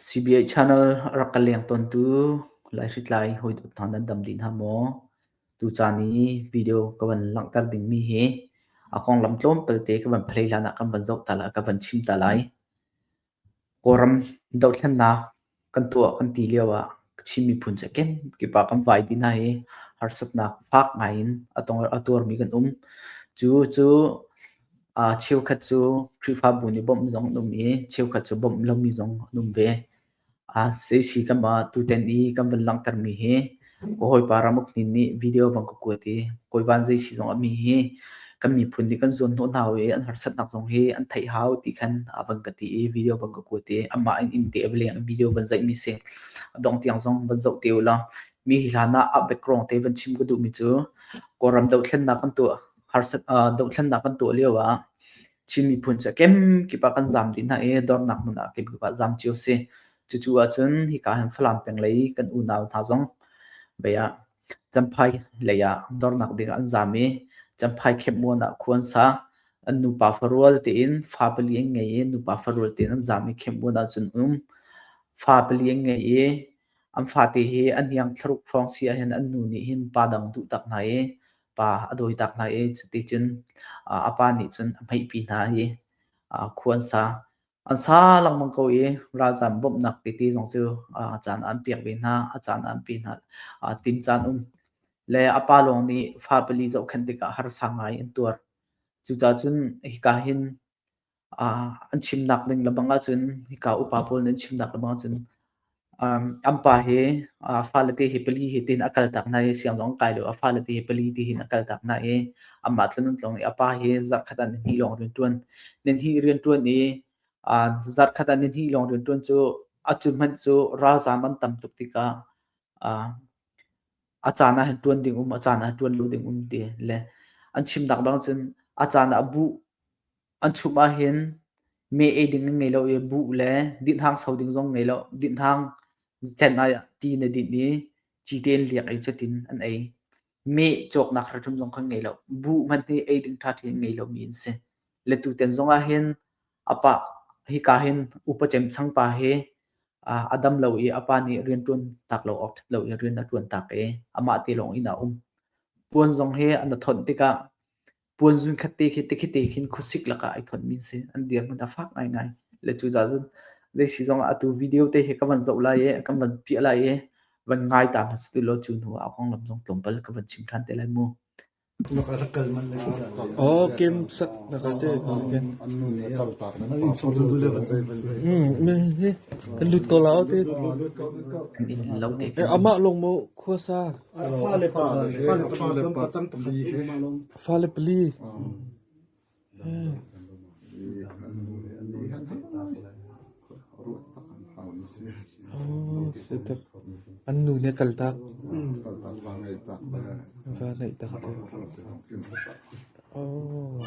CBI channel a rak ka leng tawntu laihritlai hawidawt hna nan dam dih hna maw? Tucaan i video ka van langhter dingmi hi a konglam tlawmtal te ka van philei hlanah kan van zoh ta lai, ka van chim ta lai. Kawlram dohthlennak Kan tuah kan ti lio ah Chin miphun cu a kemkip ah kan vai ti hna i harsatnak fak ngai in a tuarmi kan um. Cu cu cheukhat cu Khrihfabu nih bawmh zong an um i cheukhat cu bawmh lomi zong an um ve. A si si kan mah tutan i kan van langhtermi hi Ka hawipa Ramuk Hnin nih video bang ka kuat i Kawi Van Zei si zong a mi hi kan miphun nih kan zuan hnawh hna u i an harsatnak zong hi an theih hau ti khan a van ka ti i video bang ka kuat i amah in inn te a va leng i video van zeih mi si a dong tiang zong van zoh te u law mi hi hlan ah a background te van chim ka duh mi cu Kawlram dothlennak kan tuah harsat uh, dothlennak kan tuah lio ah Chin miphun cu kem kip ah kan zam dih hna i dornak hmun ah kip kip ah zam cio si Cucu ahcun hika hin Falam peng lei kan unau hna zong bei ah Champhai lei ah dornak ding ah an zaam i Champhai khepmuan ah khua an sa. An nupa farual tein fa pali an ngei i nupa farual tein an zaam i khepmuan ah cun um. Fa pali an ngei i an fate hi an hiang thlaruk hrawng si ahhin an nu nih hin pa dang duh tak hna i pa a dawi tak hna i cuti cun a pa nih cun a hmeihpi hna i khua an sa. An sa lengmang ko i ralzam bawmhnak tete zong cu a caan ah an pek ve hna. A caan ah an pe hna. Aa tin caan um le a pa lawng nih fapali zohkhenh tikah harsa ngai an tuar. Cucacun hika hin aa an chimnak ning lebang ahcun hika upa pawl nih an chimnak lebang ahcun An pa hi fale te hi pali hi ti in a kaltak hna i siang zong a kai lo. A fale te hi pali ti hin a kaltak hna i amah tlun an tlung i a pa hi zarkhat ah nihnih lawng rianṭuan, nihnih rianṭuan i zarkhat ah nihnih lawng rianṭuan cu a cu hmanh cu ralzaam an tam tuk tikah a caan ah hin ṭuan ding um, a caan ah hin ṭuan lo ding um ti le an chimnak bang cun a caan ah a buh. An chumh ahhin me ei ding an ngei lo i buh le dinhhang sau ding zong ngei lo. Dinhhang zen ah ti na dinh i ci tein liak i cutin an ei. Me cawknak hrimhrim zong kha ngei lo. Buh hmanh hi ei ding ṭha ṭhi an ngei lomi an si. Le tuten zong ahhin a pa hika hin upa cemcang pa hi a dam lo i a pa nih rianṭuan tak lo awk ṭhat lo in rian a ṭuan tak i amah te lawng inn ah a um. Puan zong hi an i thonh tikah puan zun khat te khi tikhi te khin khuasik lakah ai thonmi si. An dirhmun a fak ngaingai. Le cucaah cun zeisi zongah atu video te hi ka van zoh lai i, kan van piah lai i, van ngai ta hmasa tu lo cu hnu ah kong lam zong tlawmpal ka van chim ṭhan te lai mu. Oh, kem sak na ka te ken. Hmm, me hi kan lut ko lao te. Kan in lo te. Eh, ama long mo khuasa Fale panga kan pacang pakhat hi. Fale pali. Setek. An nu nih kal tak. Va naih tak te. Oh.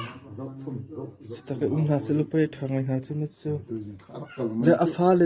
Setak um hna se lupai thangai hna chu ma chu. Le a fale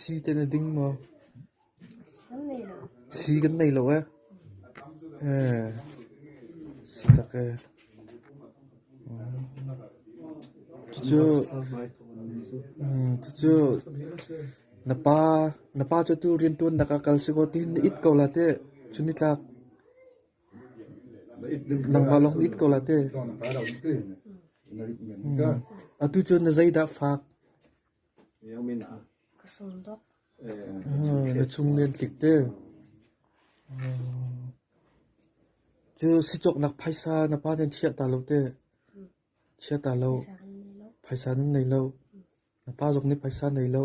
Sii te na ding maw? Sii kan nei lo ee. Sii tak ee. Cucu cucu na pa na pa cu tu riantuan nak ah kal si kaw ti na it ko la teh. Cu nitlak. Nangmah lawng it ko la teh. Atu cun na zeidah fak? Na chung len tlik teh. Cu sicawknak phaisa na pa nih chiah ta lo teh. Chiah ta lo. Phaisa nan nei lo. Na pa zong nih phaisa nei lo.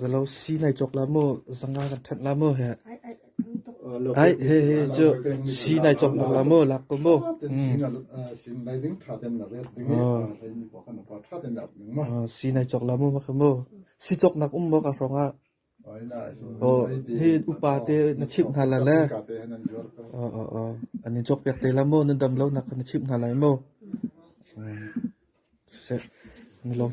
Zalosi nai cawk la maw, zanga kan ṭhenh la maw heh. Ai hehe cu si nai cawk nak la maw, lak ko maw. Si nai cawk la maw makha maw. Si cawk nak um maw ka hrawng ah. Aw hi upa te na chimh hna la le. Aw aw aw an in cawk piak te la maw, na dam lo nak na chimh hna lai maw. Siseh, na lawm.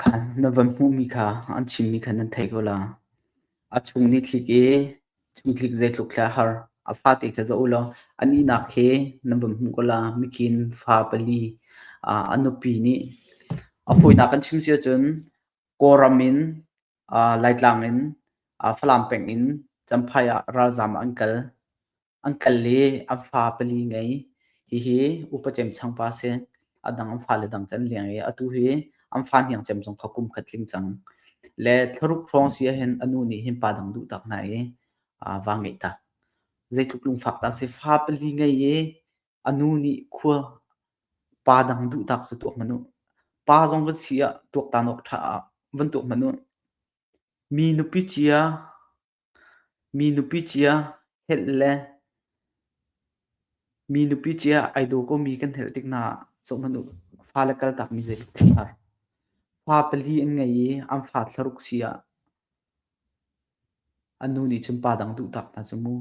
Khan na van hmuhmi kha an chimmi kha nan thei ko la. A chung nih thlik i chung thlik zeitluk thla a har. A fate kha zoh u law a nihnak hi na van hmuh ko la. Mikhin fa pali ah a nupi nih a hawinak kan chim si ahcun Kawlram in Laitlang in Falam peng in Champhai ah ralzaam an kal. An kal i an fa pali ngei. Hihi upa cemchang pa si. A dang an fale dang cu an leng i atu hi an fa hniangcem zong kha kum khat tling cang. Le thla ruk hrawng si ahhin a nu nih hin pa dang duhtak hna i aa va ngeih tak. Zeitluk lungfak dah si. Fa pali ngei i a nu nih khua pa dang duhtak cu tuak hmanh u. Pa zong va si ah tuaktan awk ṭha ah van tuak hmanh u. Mi nupi cia Mi nupi cia helh le mi nupi cia ai daw komi kan helh tik hna ah zohhmanh u fale kaltakmi zeitluk a ṭha. Fa pali an ngei i an fa thlaruk si ah an nu nih cun pa dang duhtak hna cu mu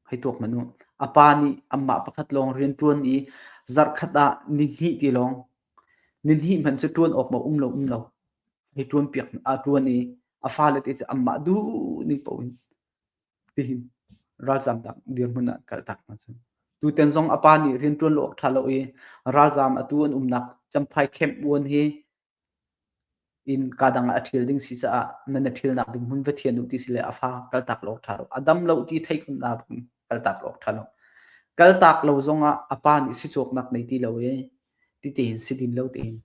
hei tuak hmanh u. A pa nih anmah pakhat lawng rianṭuan i zarhkhat ah ni hnih ti lawng Nihnih hmanh cu ṭuan awk maw um lo um lo. Hei ṭuanpiak aa ṭuan i a fale te cu anmah duhning paoh in tihin ralzaam tak dirhmun ah kaltak hna cu. Tutan zong a pa nih rianṭuan lo awk ṭha lo i ralzaam atu an umnak Champhai Camp 1 hi in ka dang ah a ṭhil ding si caah nan i ṭhilnak ding hmun va thian u ti si le a fa kaltak lo ṭha lo a dam lo ti theikhunnak ding kaltak lo ṭha lo kaltak lo zongah a pa nih si cawknak nei ti lo i ti tein si din lo tein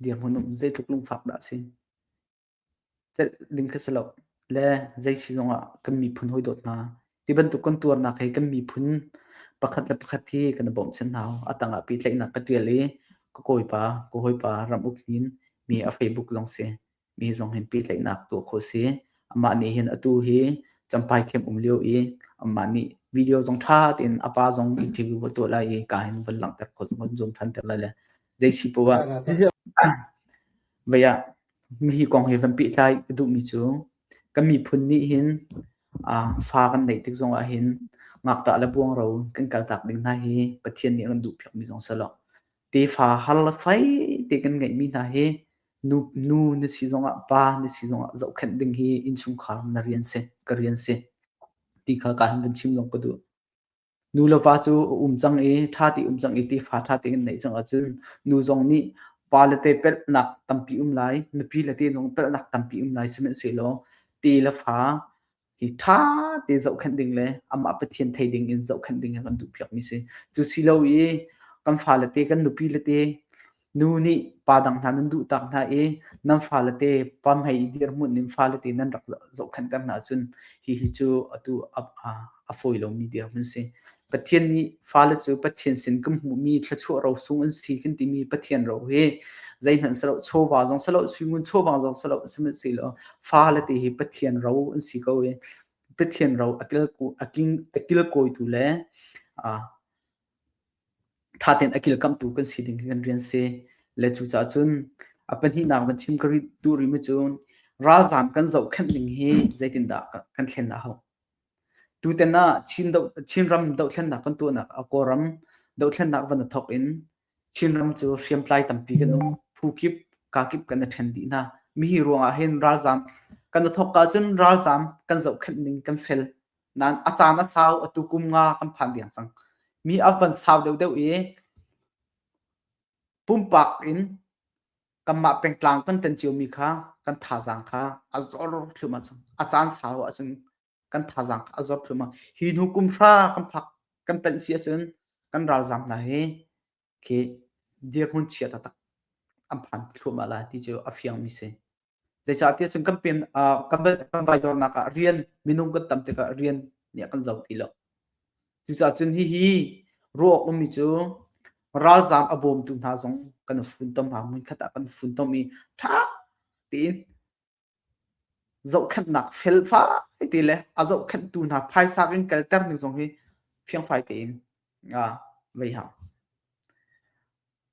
dirhmun um zeitluk lungfak dah a si celh ding kha si lo. Le zeisi zongah kan miphun hawi dawt hna, ti bantuk kan tuarnak hi kan miphun pakhat le pakhat hi kan i bawmchan hna. A tangah pehtlaihnak ka tial i ka kawipa, ka hawipa ram uk hin mi a Facebook zong si, mi zong hin pehtlaihnak tuah kho si. Amah nih hin atu hi champai khem um lio i amah nih video zong ṭha tein a pa zong interview va tuah lai i ka hin van langhter khawh, van zum ṭhan ter lai le zeisi poah Vei ah hi kong hi van pehtlai ka duhmi cu kan miphun nih hin fa kan neih tik zongah hin ngakṭah le buangro kan kaltak ding hna hi Pathian nih a kan duhpiakmi zong si law tefa har le fai te kan ngeihmi hna hi nu na si zongah pa na si zongah zohkhenh ding hi innchungkhar na rian si ka rian si ti kha ka han van chim lawng ka duh. Nu le pa cu a um cang i ṭha te um cang i tefa ṭha tein an neih cang ahcun nu zong nih pa le te pelhnak tampi um lai, nupi le te zong pelhnak tampi um lai, sihmanhsehlaw te le fa hi ṭha te zohkhenh ding le amah Pathian thei ding in zohkhenh ding hi kan duhpiakmi a si. Cu si lo i kan fale te, kan nupi le te Nu nih pa dang hna nan duhtak hna i nan faalate pam hei i dirhmun in faalete nan rak zohkhenhter hna ahcun hihi cu atu a fawi lomi dirhmun si. Pathian nih faale cu Pathian sin kan hmuhmi thluachuah ro sung an si kan timi Pathian ro hi zeihmanh silo chawva zong silo suingun chawva zong silo sihmanhsehlaw faalete hi Pathian ro an si ko i Pathian ro a kilkawitu le ṭha tein a kilkamhtu kan si ding khi kan rian si. Le cucaah cun a pahnihnak van chim ka ri- duh rihmi cu ralzaam kan zohkhenh ning hi zeitindah kan thlen a hauh? Tutan ah Chin do- Chinram dohthlennak kan tuahnak ah Kawlram dohthlennak van i thawk in Chinram cu hriamtlai tampi kan um. Phu kip, ka kip kan i ṭhen dih hna. Mi hi ruangah hin ralzaam kan i thawk ahcun ralzaam kan zohkhenh ning kan fel. nan a caan a sau atu kum nga kan phan diang cang mi a van sau deuhdeuh i pumpak in kanmah pengtlang kan tan cio mi kha kan thazaang kha a zor thlum a a caan sau ahcun kan thazaang kha a zor thlum a hi hnu kum hra kan phak kan panh si ahcun kan ralzaam hna hi khi dirhmun chia taktak an phan thluahmah la ti cu a fiangmi si zeicahtiah cun kan pem kan kan vai dornak ah rian minung kan tam tikah rian nih a kan zo ti lo cucaah cun hihi ruah ummi cu ralzaam a bawmtu hna zong kan funtom ha munkhat ah kan funtom i ṭha tein zohkhenhnak felfai te le a zohkhenhtu hna phaisa kan kalter ning zong hi fiangfai tein vei hang.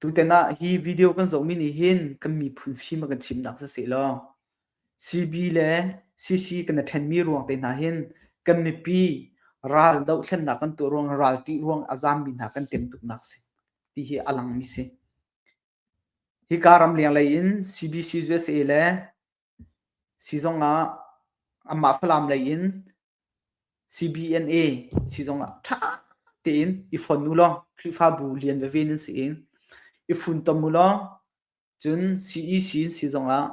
Tuten ah hi video kan zohmi nih hin kan miphun fim a kan chimnak si sehlaw CB le CC kan i ṭhenmi ruang te hna hin kan mipi ral dohthlennak kan tuah ruang ral ṭih ruang a zaammi hna kan tem tuknak a si ti hi a langmi si. Hika ram leng lei in CBCs usa le sizung ah anmah Falam lei in CBNA sizung ah ṭha tein i fon u law Khrihfabu lian veve nan si i i funtom u law cun CEC sizung ah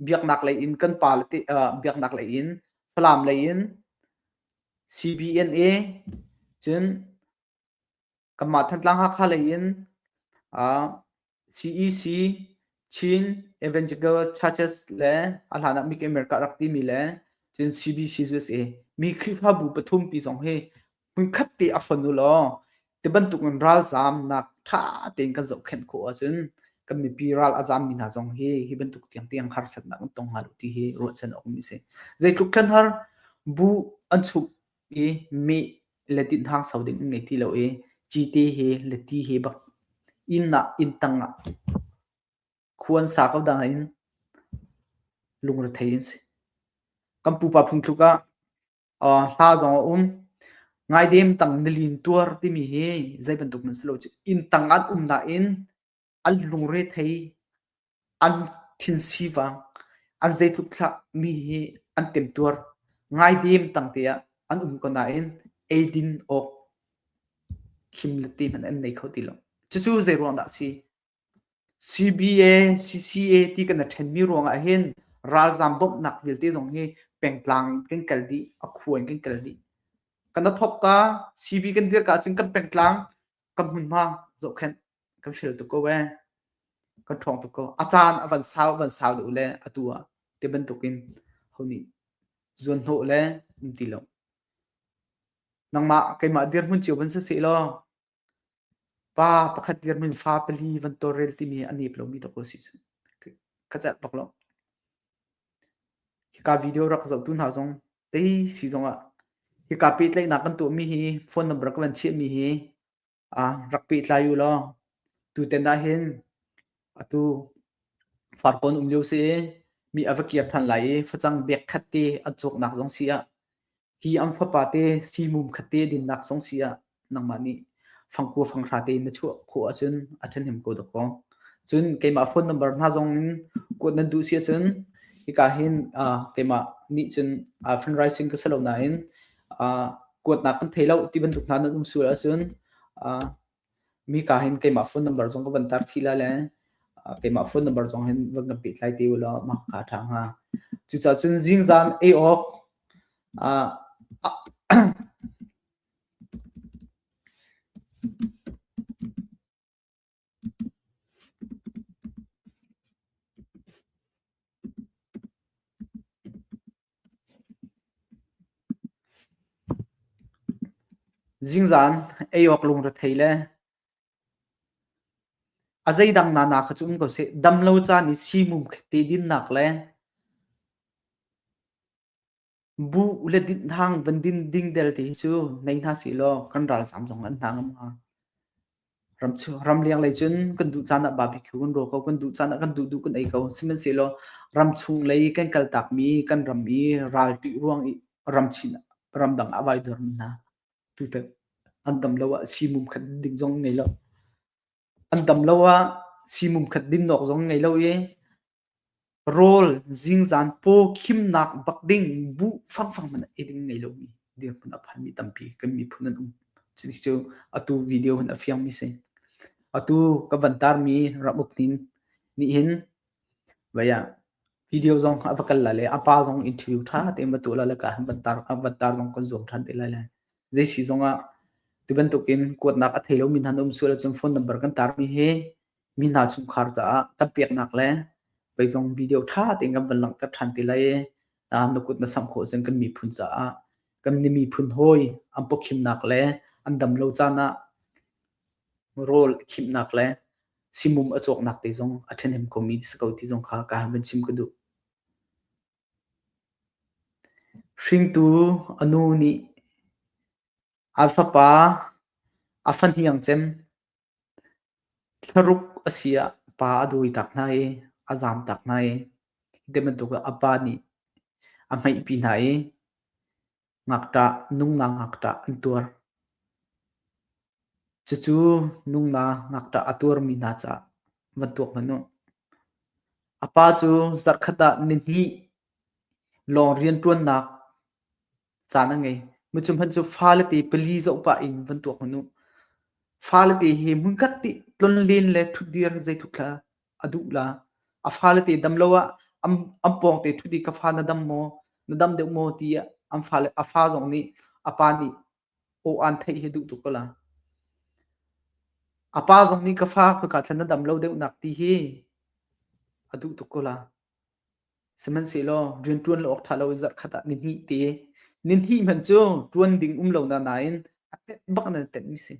biaknak lei in kan pa le te biaknak lei in Falam lei in CBNA cun kanmah Thantlang Hakha lei in uh, CEC Chin Evangelical Churches le a hlan ah Make America rak timi le cun CBC USA mi Khrihfabu pathum pi zong hi hmunkhat te a fon u law ti bantuk in ralzam nak tha tein kan zohkhenh khawh ahcun kan mipi ral a zam mi hna zong hi hi bantuk tiang tiang harsatnak an tong hnga lo ti hi ruahchan awk mi si zeitluk khan har bu an chuk Mi mih le tinhang sau ding an ngei ti lo i cite he le ti he bak inn ah inn tang ah khu an sa ko dang in lungrethei an si. Kan pupa phung tluk ah uh, hla zong a um. Ngai dem tang nilin tuar timi hi zei bantuk nan si lo cu inn tang an um nain an lungre thei an thin sivang an zeitluk thlah mi hi an temtuar ngai dem tangte ah an um ko nain eidin awk khim le ti hman an nei kho ti lo cucu zei ruang dah si CBA CCA ti kan a then mi ruang ah hin ralzam bawmhnak vialte zong hi pengtlang in kan kal di a khuan kan kal di kan thop ka CB kan dir ka cun kan pengtlang kan hmunhma zohkhenh kan hrial tuk ko ee kan ṭhawng tuk ko a caan a van sau a van sau lo le atu ah ti bantukin ho nih zuan hnawh le an ti lo nangmah keimah dirhmun cio van si se law pa pakhat dirhmun fa pali van torrel timi a nep lomi ta ko si khacat bak lo Hika video rak ka zohtu hna zong tei si zongah hika pehtlaihnak kan tuahmi hi phone number ka van chiahmi hi rak pehtlai u law tutan ahhin atu farkawn um lio si i mi a va kir than lai i facang bag khat te a cawknak zong si ah Hi ang fapa te si mum khat te dinnak song si ah nangmah nih fangkua fanghra te na chuah khawh ahcun a ṭhahnem ko dakaw. Cun keimah phone number hna zong in kuat nan duh si ahcun hika hin uh, keimah nih cun uh, fundraising ka selo nain uh, kuatnak kan thei lo ti bantuk hna nan um sual ahcun uh, Mika hin keimah phone number zong ka van tar chih lai le keimah phone number zong hin van kan pehtlai te ulaw mah ka ṭha hnga. Cucaah cun zingzan ei awk ah Zingzan ei awk lung rethei le a zeidang na na kha cu um ko seh, damlo caan i siimum khe te dinnak le buh le dinhhang van din ding telte hi cu nei hna sih law kan ralzam zong an hna ngam hnga. Ramleng lei cun kan duh caan ah barbecue kan rual ko, kan duh caan ah kan duh duh kan ei ko. Sihmanhsehlaw ramchung lei kan kal takmi kan ram i ralṭi ruang i ramchin ramdang ah vai dorm hna. Tutan an dam lo ah siimum khat ding zong ngei lo. An dam lo ah siimum khat din awk zong ngei lo i Rawl zingzan paw khimnak bak ding buh fangfang hmanh ei ding ngei lomi dirhmun a phanmi tampi kan miphun an um. Cuti cu atu video hun a fiangmi si. Atu ka van tarmi ramuk nin nih hin vaya video zong a va kal la le a pa zong interview ṭha tein va tuah la le ka van tar a van tar zong kan zuam ṭhan te lai le. Zeisi zongah tu bantukin kuatnak a thei lomi hna an um sual ahcun phone number kan tarmi hi mi hna chungkhar caah kan peknak le zeizong video ṭha tein kan van langhter ṭhan ti lai i na kut na samh khawh cun kan miphun caah kan miphun hawi an pawkhimnak le an damlo caan ah rawl khimnak le simum a cawknak te zong a ṭhahnem komi si ko ti zong kha ka han van chim ka duh. Hringtu a nu nih a fapa a fahniang cem Thlaruk a si ah pa a dawitak hna i a zamtak hna i hi ti bantuk a pa nih a hmeihpi hna i ngakṭah nungna ngakṭah an tuar. Cucu nungna ngakṭah a tuarmi hna caah va tuak hmanh u. A pa cu zarhkhat ah nihnih lawng rianṭuannak caan a ngei. Mi cu hman cu faalete pali zoh pah in van tuak hmanh u. Faalete hi hmunkhat nih tlonlen le ṭhutdir zeitluk hlah a duh la. A faalete dam lo ah an an pawngte ṭhut i ka fa na dam maw? Na dam deuh maw? ti ah an faale a fa zong nih a pa nih aw aan theih hi duh tuk ko la. A pa zong nih ka fa khuika thlan na dam lo deuhnak ti hi a duh tuk ko la. Sihmanhsehlaw rianṭuan lo awk ṭha lo in zarhkhat ah ni hnih te, ni hnih hmanh cu ṭuan ding um lo na nain a tenh bak in an tenhmi si.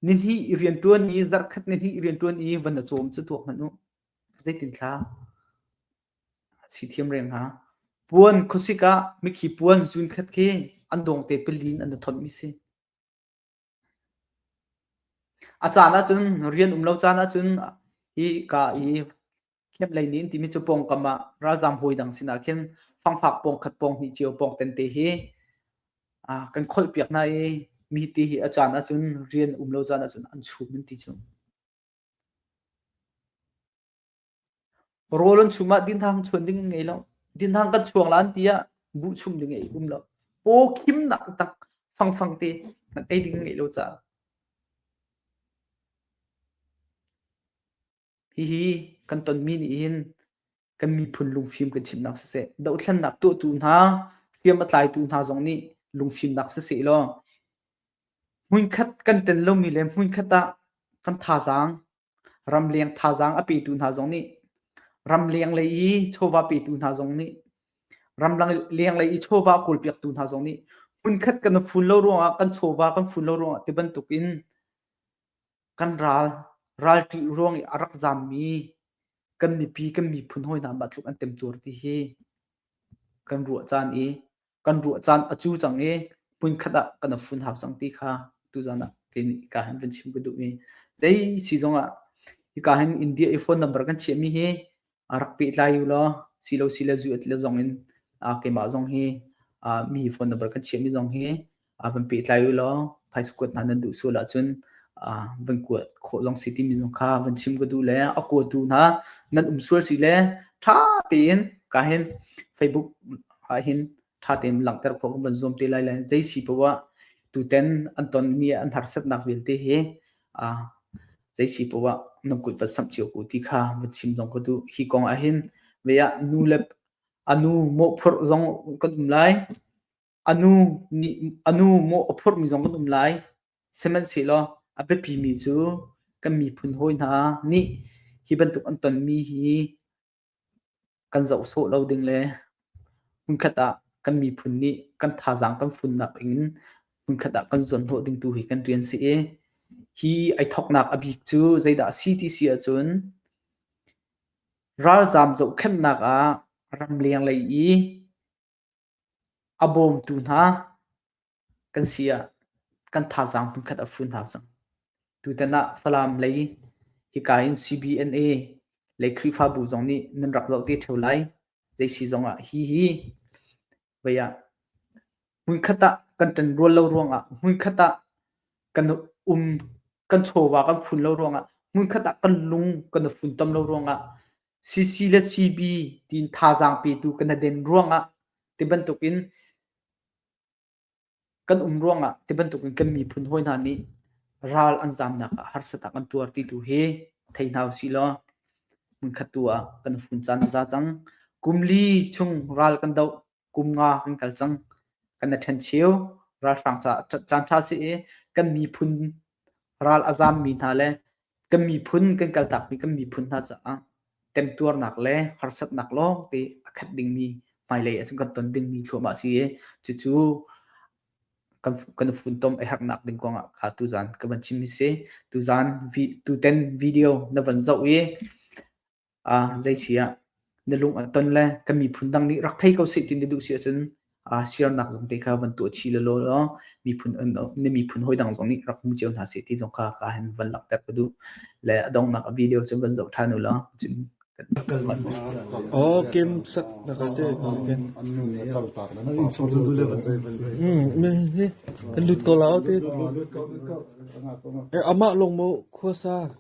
Ni hnih i rianṭuan i zarhkhat ni hnih i rianṭuan i van na cawm cu tuak hmanh u. Zeitinthla? Si thiam reng hnga. Puan khuasik ah mikhi puan zunkhat khi an dawngte pali in an na thonhmi si. A caan ahcun rian um lo caan ahcun hi ka i kheplei nin timi cu pawngkam ah ralzaam hawi dang sinah khin fangfak pawng khat pawng hnih cio pawng tente hi kan kholhpiak hna i mi ti hi a caan ahcun rian um lo caan ahcun an chum an ti cu. Rawl an chum ah dinhang chuan ding a ngei lo. Dinhang kan chuang la an ti ah buh chum ding ei um lo. Paw khimnak tak fangfang te ei ding a ngei lo caah. Hihi kan tonmi nih hin kan miphun lungfim kan chimnak siseh, dohthlennak tuahtu hna, hriam a tlaitu hna zong nih lungfimnak siseh law, hmunkhat kan tel lomi le hmunkhat ah kan thazaang ramleng thazaang a petu hna zong nih ramleng lei i chawva petu hna zong nih ramleng lei i chawva kawlpiaktu hna zong nih hmunkhat kan fun lo ruangah kan chawva kan fun lo ruangah ti bantukin kan ral ralṭi ruang i a rak zammi kan mipi kan miphun hoi hna batluk an temtuar ti hi kan ruah caan i kan ruah caan a cu cang i hmunkhat ah kan fun hau cang ti kha tuzan ah kei nih ka hin van chim ka duh i zei si zong ah hika hin India i phone number kan chiahmi hi rak pehtlai u law silo sile zu at le zong in keimah zong hi mi phone number kan chiahmi zong hi ah van pehtlai u law phaisa kuat hna nan duh sual ahcun van kuat khawh zong si timi zong kha van chim ka duh le a kuatu hna nan um sual si le ṭha tein ka hin facebook ah hin ṭha tein langhter khawh kan van zuam te lai le zei si pawa tuten an ton mi an harsatnak vialte hi zei si pawa nan kut va samh cio ku ti kha van chim zong ka duh hi kong ah hin veya nu le anu mawhphurh zong kan um lai A nu mawh a phurmi zong kan um lai. Sihmanhsehlaw a biapimi cu kan miphun hawi hna nih hi bantuk an tonmi hi kan zoh sawh lo ding le hmunkhat ah kan miphun nih kan thazaang kan funnak in hmunkhat ah kan zuanhnawh ding tu hi kan rian si i hi ai thawknak a bik cu zeidah a si ti si ahcun ralzaam zohkhenhnak ah ramleng lei i A bawmtu hna kan si ah kan thazaang hmunkhat a fun hau cang. Tutan ah Falam lei hika in CBNA lei Khrihfabu zong nih nan rak zoh te ṭheo lai. Zeisi zong ah hihi vei ah hmunkhat ah kan ṭanrual lo ruangah, hmunkhat ah kan um kan chawva kan fun lo ruangah, hmunkhat ah kan lung kan i funtom lo ruangah CC le CB tiin thazaang petu kan i den ruangah tibantukin kan um ruangah tibantukin kan miphun hawi hna nih ral an zamnak ah harsatak an tuar ti tu hi thei hna usih law hmunkhat tu ah kan fun caan a za cang. Kum li chung ral kan doh kum nga kan kal cang kan i ṭhen cheu ralhrang caah caan ṭha si i kan miphun ral a zammi hna le kan miphun kan kaltakmi kan miphun hna caah kan tuarnak le harsatnak lawng te a khat dingmi hmailei a kan ton dingmi thluahmah si i cucu kan kan funtom a herhnak ding kong ah kha tuzan ka van chim hi si tuzan vi, tuten video na van zoh i Ah zeici ah na lung a ton le kan miphun dang nih rak thei ko seh ti na duh si ahcun ah siarnak zong te kha van tuah chih lawlaw law miphun na miphun hoi dang zong nih rak hmu cio hna seh ti zong kha ka hin van langhter ka duh le a donghnak video cu van zoh ṭhan u law cun Oh, Kim sak na ka te ko ken. Hmm, hi kan lut ko lao te. Eh ama long mo khua sa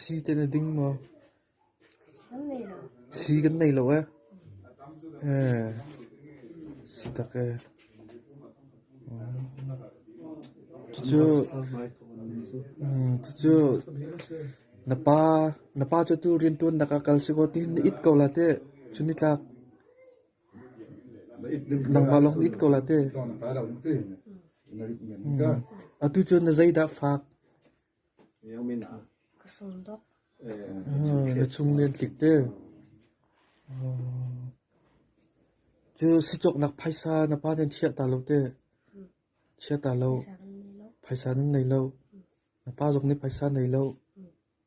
Sii te na ding maw? Sii kan nei lo ee. Sii tak ee. Cucu cucu na pa na pa cu tu riantuannak ah kal si kaw tihin na it ko la teh. Cun nitlak. Nangmah lawng it ko la teh. Atu cun na zeidah fak? Na chung lian tlik teh. Cu sicawknak phaisa na pa nih chiah ta lo teh. Chia ta lo. Phaisa nan nei lo. Na pa zong nih phaisa nei lo.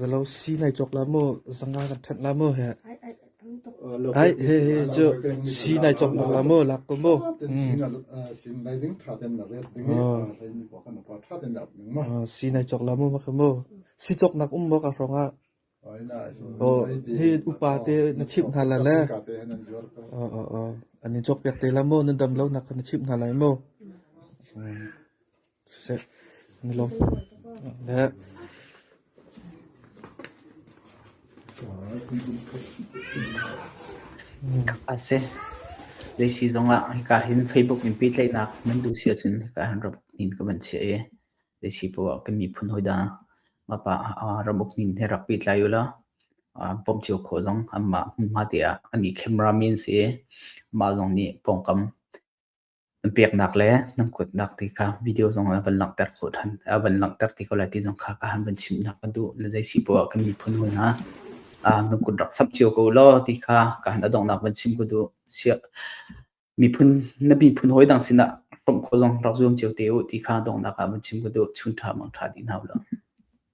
Zalo si nai cawk la maw, zanga kan ṭhenh la maw heh. Ai he he cu si nai cawk nak la maw, lak ko maw. Si nai cawk la maw ma kha maw. Si cawk nak um maw ka hrong ah. Aw hi upa te na chimh hna la le. Aw aw aw. An in cawk piak te la maw, na dam lo nak na chimh hna lai maw. Na lawm le a si. Leisi zongah hika hin Facebook in pehtlaihnak nan duh si ahcun hika hin ram inn ka van chiah i leisi poah kan miphun hawi dang ngapa ram uk nin he rak pehtlai u law bawmh cio khawh zong anmah hmunhma te ah an i camera men si i mah zong nih pawngkam Na peknak le na kuatnak te kha video zong ah van langhter khawh ṭhan a van langhter ti ko lai ti zong kha ka han van chimhnak ka duh. Na zei si poah kan miphun hawi hna, ah na kut rak sap cio ko law ti kha ka han a donghnak van chim ka duh. Sia miphun na miphun hawi dang sinah hromh khawh zong rak zuam cio te u ti kha donghnak ah van chim ka duh. Chun ṭha mangṭha ti hna u law.